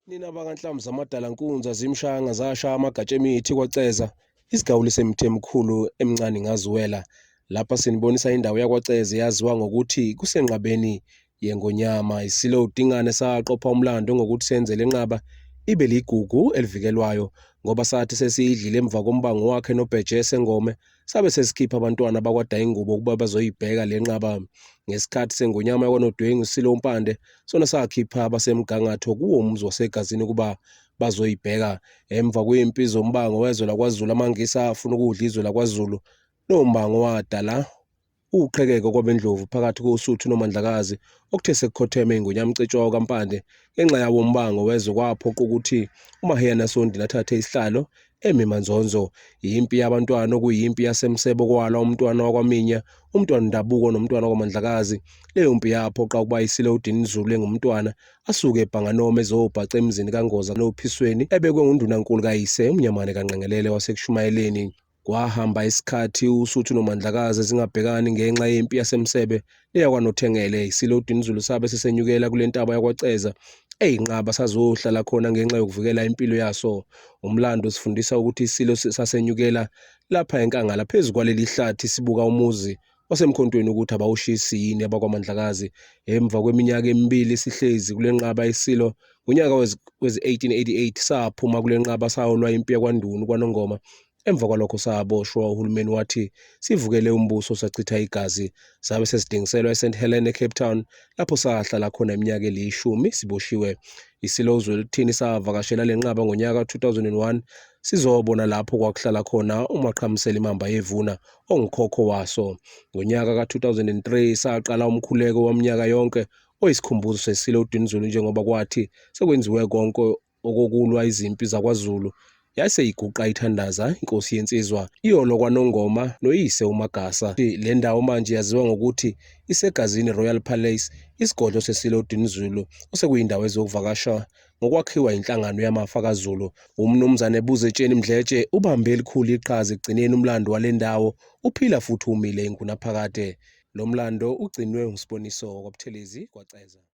Nina bakanhlamba zamadala nkunza zimshanga zasha amagatsha emithi kwaceza isigawuli semithi emikhulu emncane ngaziwela lapha sinibonisa indawo yakwaceza eyaziwa ngokuthi kusenqabeni yengonyama isilo udingane saqopha umlando ngokuthi senze le nqaba ibe ligugu elivikelwayo ngoba sathi sesiyidlile emva kombango wakhe nobheje sengome sabe sesikhipha abantwana bakwadayingubo ukuba bazoyibheka le nqaba ngesikhathi sengonyama yakwanodwengu silo mpande sona sakhipha abasemgangatho kuwo umzi wasegazini ukuba bazoyibheka emva kwempi zombango wezwe lakwazulu amangisa afuna ukudla izwe lakwazulu lombango wadala Ukuqhekeka kwabendlovu phakathi koSuthu noMandlakazi okuthe sekukhotheme iNgonyama uCetshwayo kaMpande ngenxa yawo umbango wezwe kwaphoqa ukuthi uMaheyana Sondini athathe isihlalo emi manzonzo. Yimpi yabantwana okuyimpi yaseMsebo kwalwa umntwana wakwaMinya, umntwana uNdabuko nomntwana wakwaMandlakazi. Leyo mpi yaphoqa ukuba isile uDinizulu engumntwana asuke ebhanganoma ezobhaca emzini kaNgoza noPhisweni ebekwe nguNdunankulu kayise uMnyamane kaNqengelele waseKushumayeleni. Kwahamba isikhathi uSuthu noMandlakazi zingabhekani ngenxa yempi yasemsebe eyakwaNothengele. ISilo uDinizulu sabe sesenyukela kule ntaba yakwaCeza eyinqaba sazohlala khona ngenxa yokuvikela impilo yaso. Umlando sifundisa ukuthi iSilo sasenyukela lapha enkangala phezu kwaleli hlathi sibuka umuzi osemkhontweni ukuthi abawushisi yini abakwaMandlakazi emva kweminyaka emibili sihlezi kule nqaba isilo ngonyaka wezi-1888 saphuma kule nqaba saholwa impi yakwanduni kwanongoma emva kwalokho saboshwa uhulumeni wathi sivukele umbuso sachitha igazi sabe sesidingiselwa e-st helen ecape town lapho sahlala khona iminyaka eliyishumi siboshiwe isilo uzweluthini savakashela le nqaba ngonyaka 2001 sizobona lapho kwakuhlala khona umaqhamusela imamba yevuna ongukhokho waso. Ngonyaka ka-2003 saqala umkhuleko waminyaka yonke oyisikhumbuzo sesile uDinizulu njengoba kwathi sekwenziwe konke okokulwa izimpi zakwaZulu yayiseyiguqa ithandaza inkosi yensizwa iyolo kwanongoma noyise umagasa le ndawo manje yaziwa ngokuthi isegazini royal palace isigodlo sesilo dinizulu osekuyindawo ezokuvakasha ngokwakhiwa inhlangano yamafa kaZulu. UMnumzane Buzetsheni Mdletshe ubambe elikhulu iqhaza ekugcineni umlando wale ndawo uphila futhi umile ingunaphakade. Lo mlando ugcinwe nguSiboniso wakwaButhelezi kwaCeza.